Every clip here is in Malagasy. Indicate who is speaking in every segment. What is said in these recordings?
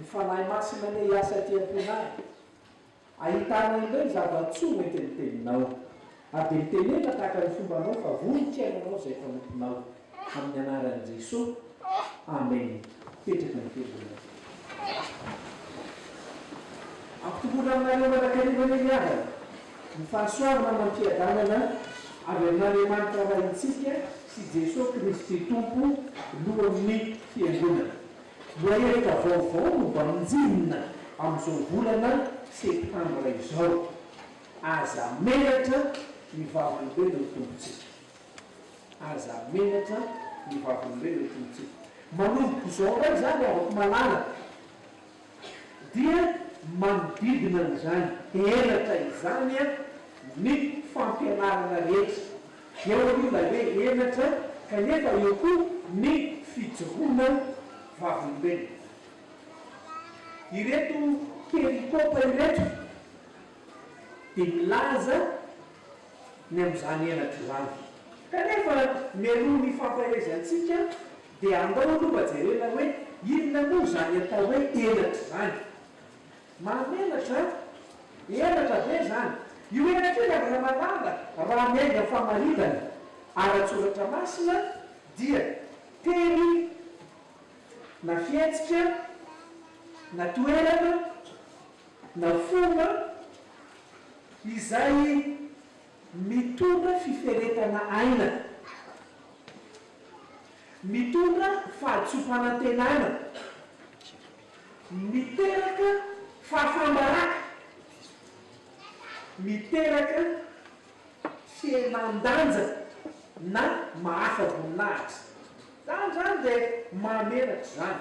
Speaker 1: Ny Fanahy Masina anie hiasa aty am-ponay, ahitana ireo zava-tsoa nentin'ny Teninao, ary dia mitenena tahaka ny fombanao fa vohitra Ianao izay mpanomponao, amin'ny anaran'i Jesoa, Amen. Petraka ny Fiangonana. Ampitomboina aminareo mandrakariva anie ny havana, ny fahasoavana amam-piadanana avy amin'Andriamanitra Raintsika sy Jesoa Kristy Tompo, Lohan'ny Fiangonana. Lohahevitra vaovao no vanjinina amin'izao volana septambra izao, Aza menatra ny Vavolombelon'ny Tompontsika. Aza menatra ny Vavolombelon'ny Tompontsika. Manomboka izao indray izany, Havako malala. dia manodidina an'izany henatra izany ny fampianarana rehetra, eo aloha ilay hoe henatra kanefa eo koa ny fijoroana vavolombelona. Ireto perikopa ireto dia milaza ny amin'izany henatra izany, kanefa mialoha ny fampaherezantsika Dia andao aloha jerena hoe inona moa izany atao hoe henatra izany. Mahamenatra an! Henatra ve izany? Io henatra io ry Ramalala raha miainga famaritana ara-tsoratra masina dia teny na fihetsika na toerana na fomba izay Mitondra fiferetana aina. Mitondra fahatsoam-panantenana. Miteraka fahafam-baraka. Miteraka fihenan-danja na mahafa-boninahitra. Izany izany dia mamelatra izany.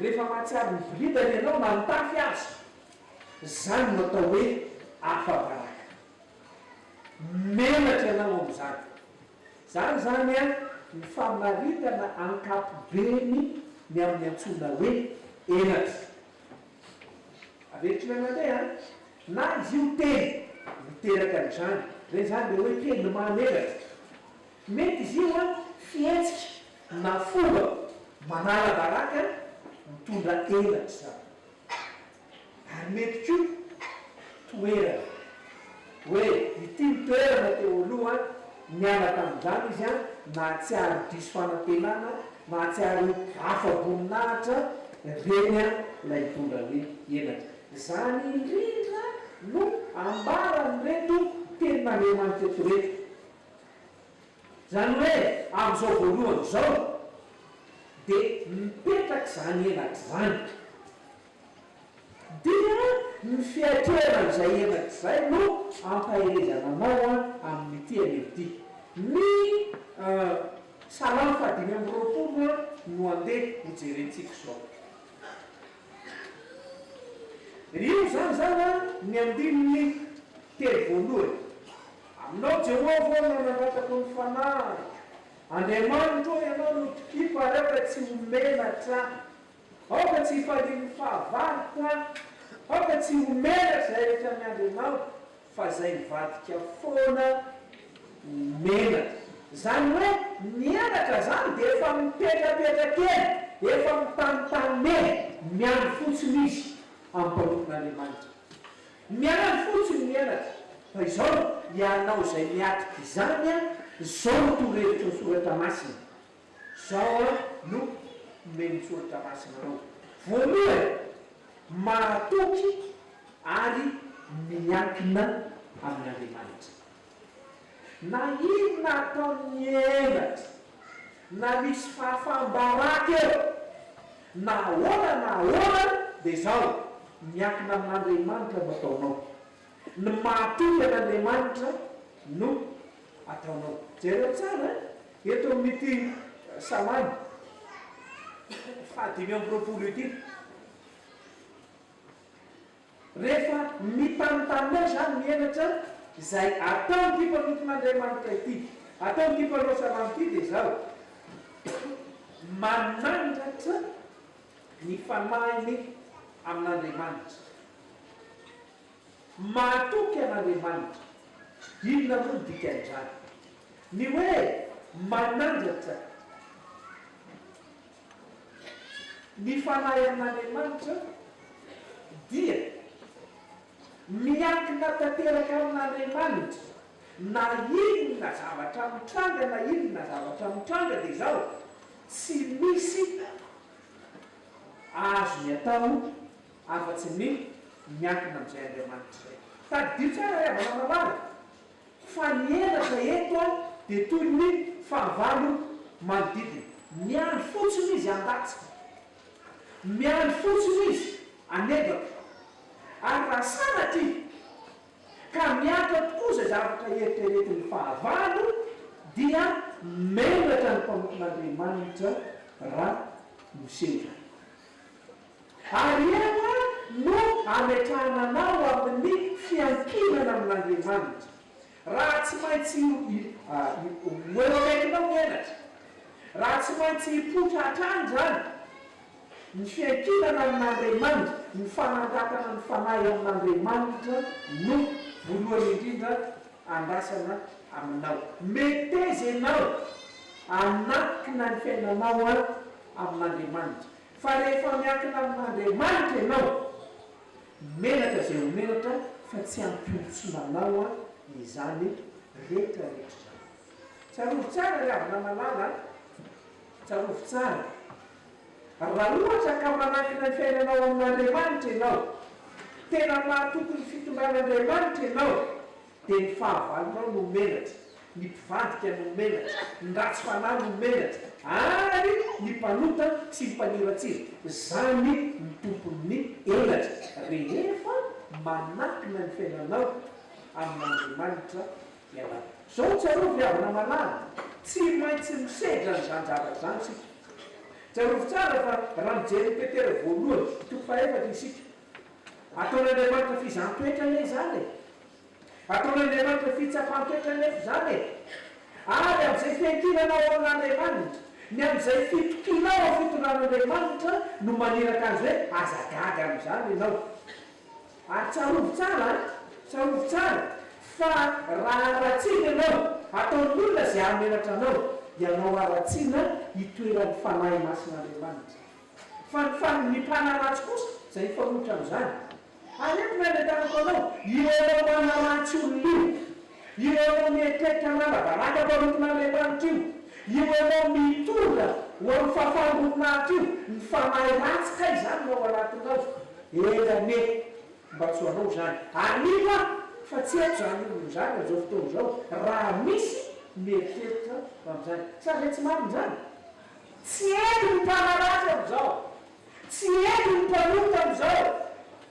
Speaker 1: Rehefa mahatsiaro miboridana ianao na mitafy aza, izany no atao hoe afa-baraka. Menatra ianao amin'izany. Izany izany an, ny famaritana ankapobeny ny amin'ny antsoina hoe henatra. Avelotr'ilay mandeha an, na izy io teny miteraka an'izany, izay izany dia hoe teny mahamenatra. Mety izy io an, fihetsika Na fomba manara-baraka mitondra elatra izany. Ary mety koa toerana. Hoe ity ny toerana teo aloha, niala tamin'izany izy an, nahatsiaro diso fanantenana, nahatsiaro ho afa-boninahitra, ireny an ilay mitondra hoe elatra. Izany indrindra no ambaran'ireto Tenin'Andriamanitra eto ireto. Izany hoe amin'izao voalohany izao dia mipetraka izany henatra izany. Dia ny fiatrehana an'izay henatra izay no ampaherezana anao amin'ity anio ity. Ny Salamo fahadimy amby roapolo no andeha hojerentsika izao. Io izany izany ny andininy telo voalohany. Aminao Jehovah aho no nangatako ny fanahiko, Andriamanitro ô, Ianao no tokiko ary aoka tsy ho menatra aho. Aoka tsy hifalian'ny fahavaloko aho, aoka tsy ho menatra izahay rehetra miandry Anao, fa izay mivadika foana ho menatra. Izany hoe mihenatra izany dia efa mipetrapetraka eny, efa mitanitany eny, miandry fotsiny izy amim-pahorian'Andriamanitra. Miala fotsiny ny elatra fa izao no ianao izay miatrika izany an, izao no torohevitry ny soratra masina, izao an no omen'ny soratra masina anao, voalohany, mahatoky ary miankina amin'Andriamanitra na inona ataon'ny elatra. Na misy fahafaham-baraka eo na ahoana na ahoana dia izao, miankina amin'Andriamanitra no ataonao. Ny mahatoky an'Andriamanitra no ataonao. Jereo tsara eto amin'ity Salamo fahadimy amby roapolo ity. Rehefa mitanontany ahy izany ny henatra izay ataon'ity mpanompon'Andriamanitra ity, ataon'ity mpanao salamo ity dia izaho manangatra ny fanahiny amin'Andriamanitra. Mahatoky an'Andriamanitra. Inona moa ny dikan'izany? Ny hoe manandratra. Ny Fanahy amin'Andriamanitra dia miankina tanteraka amin'Andriamanitra na inona zavatra mitranga na inona zavatra mitranga dia izao, tsy misy azony atao afa-tsy ny miankina amin'izay Andriamanitra izay. Tadidio tsara ry havana malala. Fa ny henatra eto dia toy ny hoe fahavalo manodidina. Miandry fotsiny izy handatsaka. Miandry fotsiny izy hanebaka. Ary raha sanatria ka miatrika tokoa izay zavatra eritreretin'ny fahavalo dia menatra ny mpanompon'Andriamanitra raha miseho izany. Ary eo no ametrahana anao amin'ny fiankinana amin'Andriamanitra, raha tsy maintsy ho eo akaikinao ny henatra, raha tsy maintsy hipoitra hatrany izany, ny fiankinana amin'Andriamanitra, ny fanandratana ny fanahy amin'Andriamanitra no voalohany indrindra andrasana aminao. Meteza ianao hanankina ny fiainanao amin'Andriamanitra, Fa rehefa miankina amin'Andriamanitra ianao, menatra izay ho menatra fa tsy ampy olon-tsy manao izany retraretra izany. Tsarovy tsara ry havana malala a! Tsarovy tsara, raha ohatra ka manankina ny fiainanao amin'Andriamanitra ianao, tena mahatoky ny fitondran'Andriamanitra ianao, Dia ny fahavalonao no menatra, ny mpivadika no menatra, ny ratsy fanahy no menatra, ary ny mpanota sy ny mpaniratsira. Izany no tompon'ny elatra, rehefa manakina ny fiainanao amin'Andriamanitra ianao. Izao tsarovy ry havana malala, tsy maintsy misedra an'izany zavatra izany isika. Tsarovy tsara fa raha mijery an'i Petera voalohany, toko fahaefatra, isika, ataon'Andriamanitra fizaham-petra anie izany e! Ataon'Andriamanitra fitsapan-toetra anefa izany e! Ary amin'izay fiankinanao amin'Andriamanitra, ny amin'izay fitokianao amin'ny fitondran'Andriamanitra no maniraka azy hoe aza gaga amin'izany ianao. Ary tsarovy tsara an! Tsarovy tsara fa raha haratsiana ianao, ataon'ny olona izay hahamenatra anao, ianao haratsiana itoeran'ny Fanahy Masin'Andriamanitra. Fa ny fa ny mpanaratsy kosa izay hifanohitra amin'izany. Aleo ny anentanako anao, io anao manaratsy olona io, io anao mieritreritra hanala baraka hamparotina an'ilay lanitra io, io anao mitondra ho amin'ny fahafahan'ny voninahitra io, ny fanahy ratsy kay izany no ao anatinao, eny anie, mba tsy ho anao izany. Aniako aho fa tsy haiko izany olona izany amin'izao fotoana izao, raha misy mieritreritra ho amin'izany. Sa ve tsy marina izany? Tsy hety ny mpanaratsy amin'izao. Tsy heno ny mpanota amin'izao.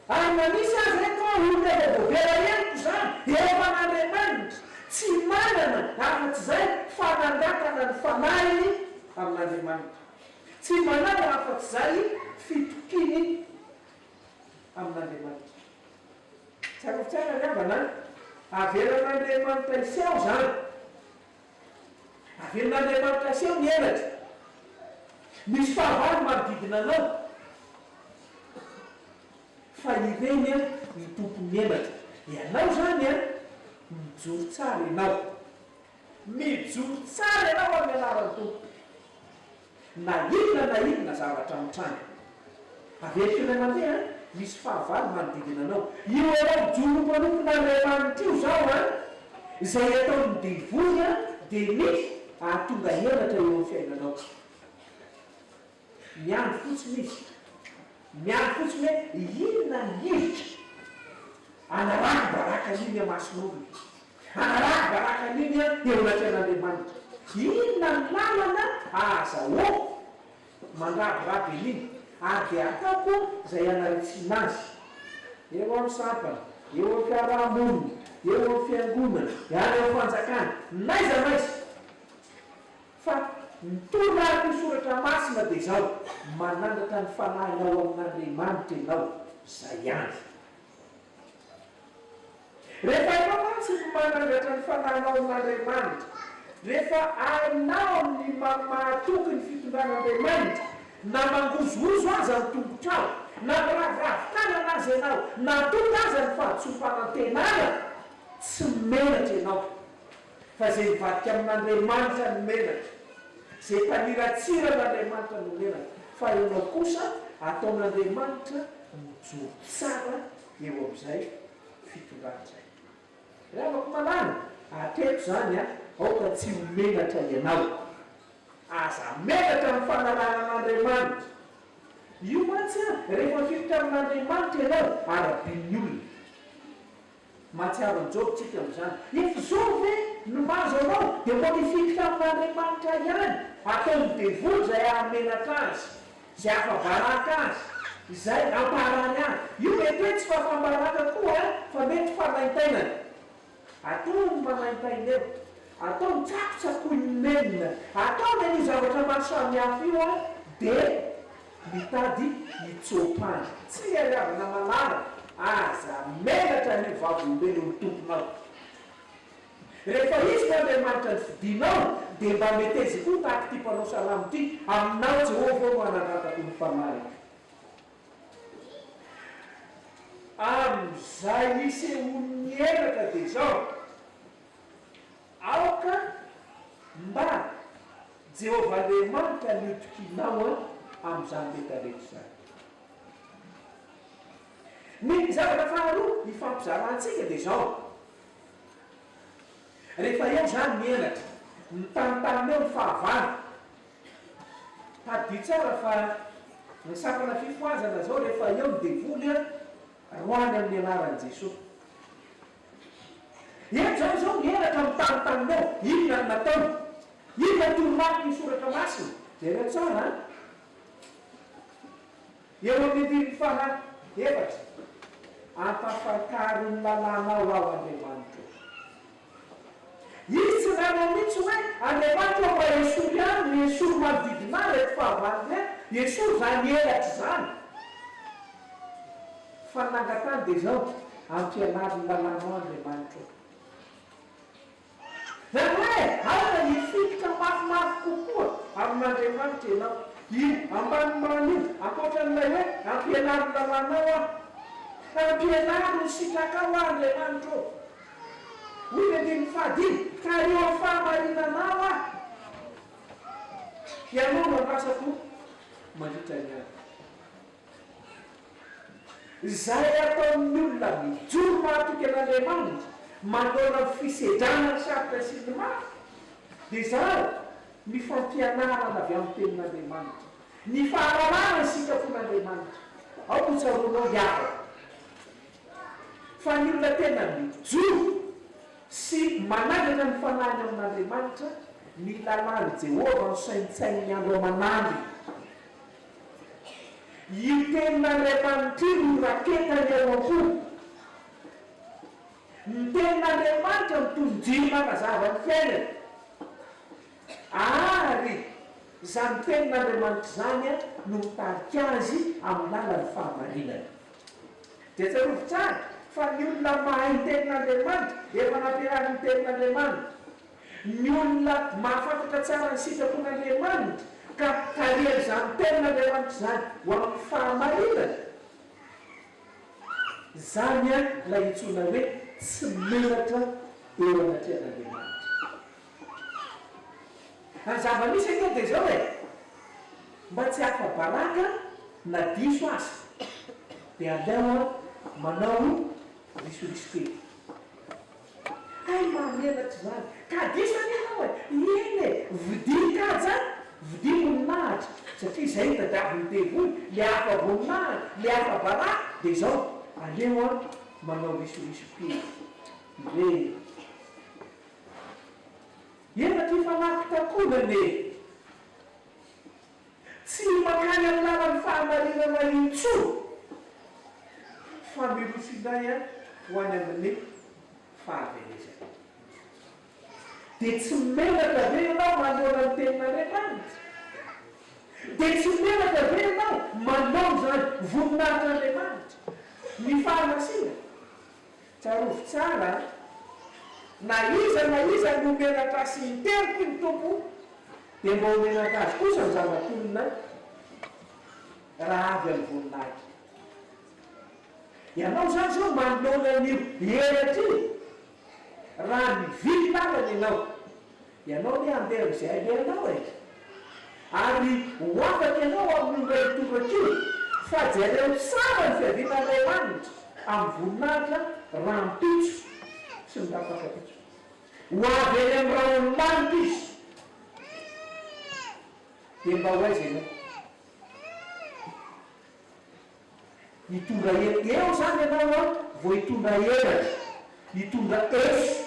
Speaker 1: Ary na misy aza eto an, olona efa voavela henoko izany, efa an'Andriamanitra. Tsy manana afa-ts'izay fa nangataka ny fanahiny amin'Andriamanitra. Tsy manana afa-ts'izay fitokiany amin'Andriamanitra. Tsiarovitsy ahy ry havana an, avelan'Andriamanitra hisy ao izany. Averin'Andriamanitra aseho ny henatra. Misy fahavalo manodidina anao, fa ireny no tompon'ny henatra. Ianao izany an! Mijoro tsara ianao. Mijoro tsara ianao amin'ny anaran'ny Tompo. Na inona na inona zavatra mitranga. Averiko indray mandeha an, misy fahavalo manodidina anao. Io anao mijoro mpanompona an'ilay Efanitra io izao an, izay ataon'ny devoly an dia mety ahatonga henatra eo amin'ny fiainanao. Miandry fotsiny izy. Miandry fotsiny hoe inona ny hevitra anarako baraka io miha-mason'olona. Hanaraha baraka an'iny aho eo anatrehan'Andriamanitra. Inona ny lalana ahazahoako mandrabiraby an'iny, ary dia hataoko izay hanaritsiana azy. Eo amin'ny sampana, eo amin'ny fiaraha-monina, eo amin'ny fiangonana, any amin'ny fanjakana, n'aiza n'aiza. Fa ny toromarin'io soratra masina dia izao, manandratra ny fanahinao amin'Andriamanitra ianao, izay ihany. Rehefa ianao mantsy no manangatra ny fananao amin'Andriamanitra, rehefa hainao ny mamahatoky ny fitondran'Andriamanitra, na mangozohozo aza ny tongotrao, na miraviravy tanana aza ianao, na tonga aza ny fahadisoam-panantenana, tsy menatra ianao. fa izay mivadika amin'Andriamanitra no menatra, izay mpaniratsira an'Andriamanitra no menatra, fa ianao kosa ataon'Andriamanitra mijoro tsara eo amin'izay fitondrana izay. Ry havako malala, hatreto izany an, aoka tsy ho menatra ianao. Aza menatra amin'ny fanarahana an'Andriamanitra. Io mantsy an, rehefa mifilotra amin'Andriamanitra ianao, arabian'ny olona. Mahatsiaro an'i Joba tsika amin'izany. Efa izao ve no mahazo anao? Dia mbola hifikitra amin'Andriamanitra ihany. Ataovy devoly izay hahamenatra azy, izay hahafa-baraka azy, izay hamparany azy. Io mety hoe tsy fahafam-baraka koa an, fa mety fanaintainana. Ataovy ny manaintaina eo. Ataovy ny tsakotsakoin'ny nenina. Ataovy an'io zavatra maro samihafa io an, dia. Mitady hitsoa-pandry, tsy mihalàvana malala, aza menatra an'io vavolombelon'ny Tomponao. Rehefa Izy no Andriamanitra nifidinao, dia mba metezi koa tahaka ity mpanao salamo ity, Aminao, Jehovah, no anangatako ny fanahiko. Amin'izay isehoan'ny henatra dia izao. Aoka mba Jehovah Andriamanitra ny hotokianao amin'izany rehetrarehetra izany. Ny zavatra faharoa hifampizarantsika dia izao, rehefa eo izany ny henatra, mitanitany eo ny fahavalo. Tadidio tsara fa ny sampana fifohazana izao rehefa eo ny devoly, roahany amin'ny anaran'i Jesoa. Eto izany izao ny henatra amin'ny tany taminao. Inona no nataony? Inona no toromarikiny ny Soratra Masina? Jereo tsara an! Eo amin'ny andininy faha efatra, Ampafantaro ny lalànao aho, Andriamanitro. Izy tsy nanao mihitsy hoe, Andriamanitro aho fa esory aminy ny esory manodidina ahy ireto fahavalony ireto. Esory izany henatra izany. Fa nangatany dia izao, Ampianaro ny lalànao Andriamanitro ô. Izany hoe aoka hifikitra mafimafy kokoa amin'Andriamanitra ianao. Io ambanimbany io, ankoatran'ilay hoe Ampianaro ny lalànao aho. Ampianaro ny sitrakao aho Andriamanitro ô. Hoy ny andininy fahadimy, Ka eo amin'ny fahamarinanao aho. Ianao no andrasako mandritra ny andro. Izay ataon'ny olona mijoro mahatoky an'Andriamanitra manoloana ny fisedrana ny sarotra sy ny mafy dia izany, ny fampianarana avy amin'ny Tenin'Andriamanitra, ny fahalalana ny sitrapon'Andriamanitra. Ao no tsaroanao ry havana, fa ny olona tena mijoro sy manangana ny fanahiny amin'Andriamanitra, ny lalàn'i Jehovah no saintsaininy andro aman'andro. Io teny mandriamanitrio no raketany ao am-po. Ny tenin'Andriamanitra no toy ny jiro manazava ny fiainany. Ary izany tenin'Andriamanitra izany no mitarika azy amin'ny lalan'ny fahamarinana. Dia tsarovy tsara fa ny olona mahay ny tenin'Andriamanitra dia efa nampianarin'ny tenin'Andriamanitra. Ny olona mahafantatra tsara ny sitrapon'Andriamanitra ka tarihan'izany tenin'Andriamanitra izany ho amin'ny fahamarinana, izany ilay antsoina hoe tsy menatra eo anatrehan'Andriamanitra. Ary ny zava-misy ange dia izao e, mba tsy hahafa-baraka na diso aza dia aleo manao risoriso kely. Hay mahamenatra izany! Ka diso anie ianao e! Eny e! Vidian'i Kaja an! Vidia voninahitra! Satria izay ny tadiavin'ny devoly, le hafa voninahitra, le hafa baraka, dia izao, aleo an, manao risoriso kely. Re. Efa tia fanahy fitakonana e! Tsy ny mankany amin'ny lalan'ny fahamarinana intsony fa miroso indray ho any amin'ny fahaverezana. Dia tsy menatra ve ianao manoloana ny tenin'Andriamanitra? Dia tsy menatra ve ianao manao izany voninahitr' Andriamanitra, ny fahamasinany? Tsarovy tsara an! Na iza na iza no menatra azy sy miteripy ny Tompo dia mba ho menatra azy kosa ny zanak'olona raha avy amin'ny voninahitra. Ianao izany izao manoloana an'io menatra io, raha mividy lalana ianao, Ianao anie handeha amin'izay alehanao e! Ary ho afaka ianao amin'ny omba io tobaka io, fa jereo tsara ny fiavian'Andriamanitra amin'ny voninahitra rahampitso sy ny rafampitso. Ho avy eny amin'ny raholomanitra Izy. Dia mba ho aiza ianao? Mitondra hery eo zany ianao an, vao hitondra henatra, hitondra eso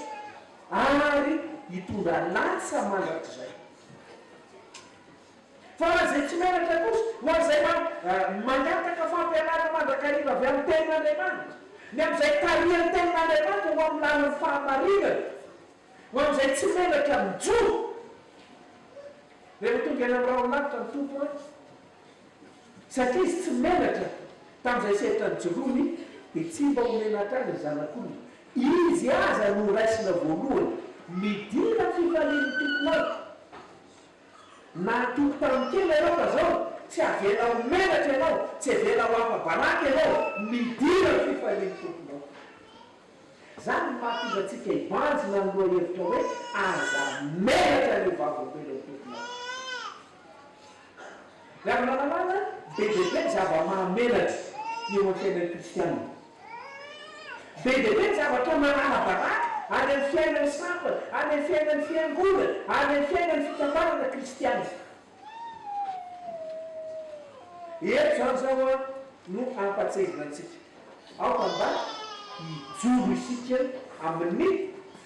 Speaker 1: ary hitondra lasa mandrakizay. Fa ho an'izay tsy menatra kosa, ho an'izay mangataka fampianarana mandrakariva avy amin'ny Tenin'Andriamanitra, ny amin'izay tarihan'ny Tenin'Andriamanitra ho amin'ny lalan'ny fahamarinana, ho an'izay tsy menatra mijoro, rehefa tonga eny amin'ny rahon'ny lanitra ny Tompo an, Satria izy tsy menatra tamin'izay sehatra nijoroany, dia tsy mba ho menatra azy ny Zanak'olona. Izy aza no raisina voalohany. Midina ny fifalian'ny Tompo amiko. Na nitoky tamin'ny tena ianao fa izao, tsy avela ho menatra ianao, tsy avela ho afa-baraka ianao. Midina ny fifalian'ny Tomponao. Izany no mahatonga antsika hibanjina ny lohahevitra hoe, Aza menatra ny ho vavolombelon'ny Tomponao. Raha ny fanalana, be dia be ny zava-mahamenatra eo amin'ny fiainan'ny kristiana. Be dia be ny zavatra maràna baraka, any amin'ny fiainan'ny sampana, any amin'ny fiainan'ny fiangonana, any amin'ny fiainan'ny fikambanana kristiana. Eto izany izao no ampahatsiahivina antsika. Aoka mba hijoro isika amin'ny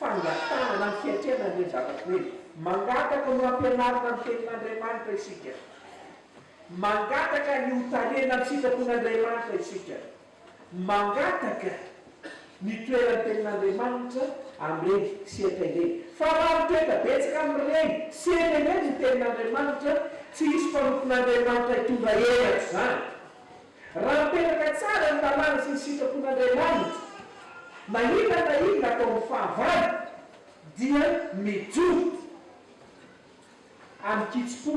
Speaker 1: fangatahana na ny fiatrehana an'ireny zavatra ireny. Mangataka ny ho ampianarina ny Tenin'Andriamanitra isika. Mangataka ny ho tarihina amin'ny sitrapon'Andriamanitra isika. Mangataka ny toeran'ny Tenin'Andriamanitra amin'ireny sehatra ireny. Fa raha mitoetra betsaka amin'ireny sehatra ireny ny Tenin'Andriamanitra, tsy hisy mpanompon'Andriamanitra hitondra hery an'izany. Raha mipetraka tsara ny lalàna sy ny sitrapon'Andriamanitra, na inona na inona ataon'ny fahavalo dia mijoro amin-kitsim-po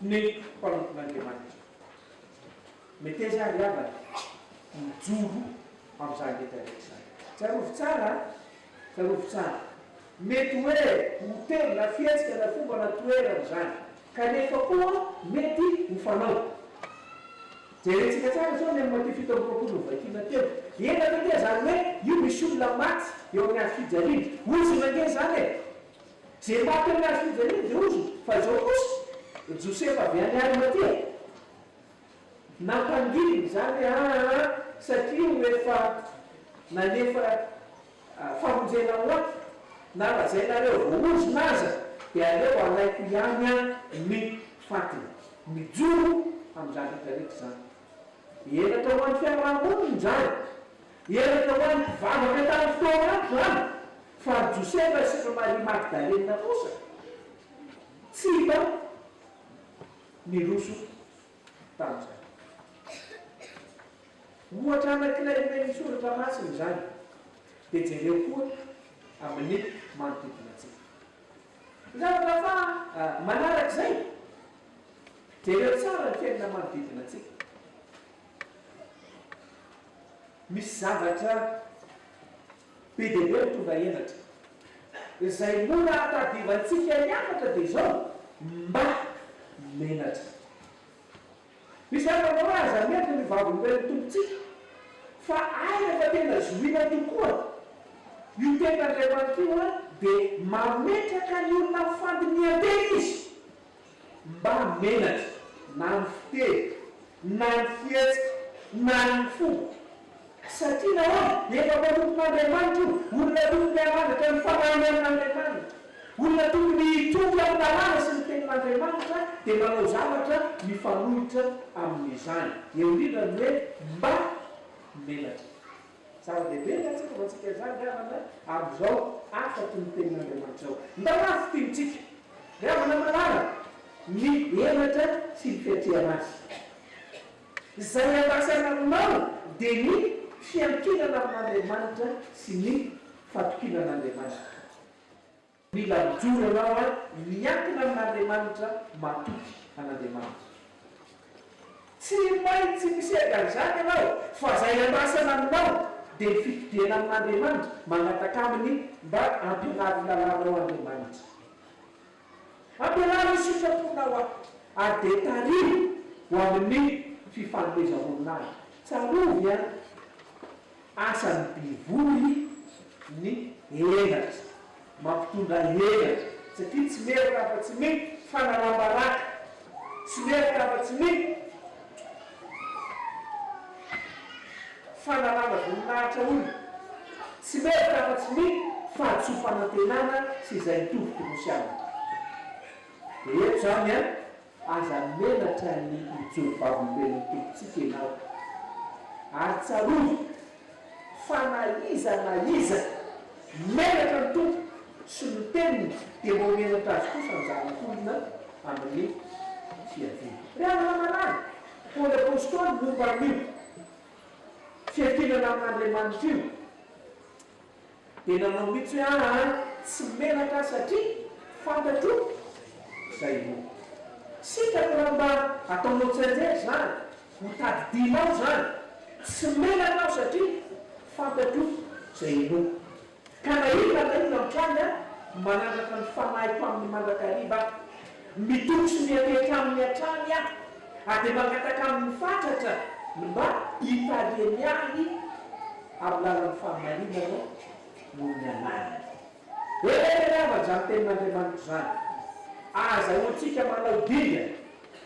Speaker 1: ny mpanompon'Andriamanitra. Meteza àry havana mijoro amin'izany rehetra rehetra izany. Tsarovy tsara an! Tsarovy tsara. Mety hoe hotely na fihetsika na fomba na toerana izany. Kanefa koa mety ho fanao. Jerentsika tsara izao ny amin'ny Matio fito amby roapolo novakiana teo. Ela taty zany hoe io misy olona maty eo amin'ny hazo fijaliana. Ozona ange zany e! Ze maty eo amin'ny hazo fijaliana dia ozona. Fa izao kosa, Josefa avy any Arimatia. Nampangiliny izany aa satria ho efa nanefa famonjena ho ahy na lazainareo vao ozona aza dia aleo alaiko ihany an ny fatiny. Mijoro amin'izany rehetra rehetra izany. Henatra ho an'ny fiaraha-monina izany. Henatra ho an'ny mpivavaka tamin'ny fotoana andro izany. Fa an'i Josefa sy an'i Maria Magdalena kosa tsy hita. Niroso tamin'izany. Ohatra anankiray omen'ny Soratra Masina izany, dia jereo koa amin'ny manodidina antsika. Ny zavatra faha manarak'izay, jereo tsara ny fiainana manodidina antsika. Misy zavatra Be dia be ny tonga henatra. Izay mora ahatadiavantsika hiakatra dia izao, mba menatra. Misy zava-mora aza mety ny Vavolombelon'ny Tompontsika, fa hay rehefa tena zohiana tokoa io teny Andriamanitra io dia mametraka ny olona amin'ny fandinihan-tena Izy. Mba menatra na ny fiteny, na ny fihetsika, na ny fo. Satria nahoana? Efa mpanompon'Andriamanitra io, olona tokony hanandratra ny fanahiny amin'Andriamanitra, olona tokony hitoky amin'ny lalàna sy ny tenin'Andriamanitra, dia manao zavatra mifanohitra amin'izany. Eo indrindra ny hoe mba menatra. Zava-dehibe ny ahatsavantsika izany, ry havana, ary izao afaky ny Tenin'Andriamanitra ao. Ndalina fintinitsika, ry havana manaraka, ny henatra sy ny fiatrehana azy. Izay iandrasana aminao dia ny fiankinana amin'Andriamanitra sy ny fatokiana an'Andriamanitra. Mila mijoro anao an, miankina amin'Andriamanitra matoky an'Andriamanitra. Tsy maintsy misedra an'izany ianao fa izay andrasana aminao dia ny fitodihana amin'Andriamanitra, mangataka Aminy mba hampianaro ny lalànao Andriamanitra. Ampianaro hisotra am-ponao aho ary dia tariho ho amin'ny fifanomezam-boninahitra. Tsarovy an! Asan'ny bivory ny henatra, mampitondra henatra satria tsy merina afa-tsy ny fanalam-baraka, tsy merina afa-tsy ny fanalana voninahitra olona, tsy merina afa-tsy ny fahadisoam-panantenana sy izay mitovy tokosy aminy. Dia eto izany an! Aza menatra ny mijoro Vavolombelon'ny Tompontsika ianao. Ary tsarovy fa na iza na iza menatra ny Tompo sy ny Teniny dia mba ho menatra Azy kosa ny zanak'olona amin'ny fiaviany. Ry havana malala, Paoly Apostoly momba an'io fiankinana amin'Andriamanitra io. dia nanao mitsy hoe aa tsy menatra satria fantatro izay ho sitrako raha mba ataonao tsianjery izany ho tadidianao izany tsy menatra aho satria fantatro izay ho ka na inona na inona mitranga manandratra ny fanahiko aminy mandrakariva aho. Mitokotry ny akeky aminy hatrany aho, ary dia mangataka aminy fatratra ny mba hitariany ahy amin'ny lalan'ny fahamarinana noho ny anarany. Eritrereto avy izany tenin'Andriamanitra izany, Ahazahoantsika manao dingana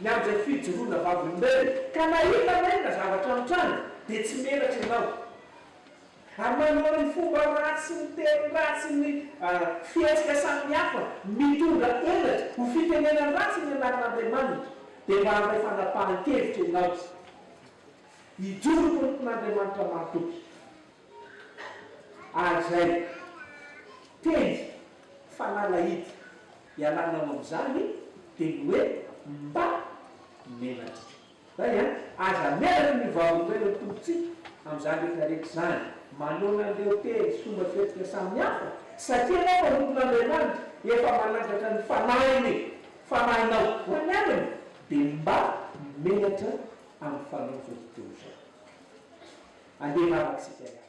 Speaker 1: ny amin'izay fijoroana vavolombelona, ka na hitanay na zavatra mitranga, dia tsy menatra ianao. Ary manao ny fomba ratsy, ny teny ratsy, ny fihetsika samihafa mitondra henatra ho fitenenana ratsy ny anaran'Andriamanitra, dia mba handray fanapahan-kevitra ianao izao. Hijoro ho tompon'Andriamanitra mahatoky. Ary izay teny fanalahidy ialanao amin'izany dia ny hoe mba menatra. Hay an! Aza menatra ny hovavin'ny toeran'ny Tompontsika amin'izany rehetra rehetra izany. Manoana an'ireo teny sy fomba fihetsika samihafa, satria ianao mpanompon'Andriamanitra efa manangatra ny Fanahiny, Fanahinao, ho any Aminy, dia mba menatra amin'ny fanaontsika izao tontolo izao. Andeha hivavaka isika hiaraka.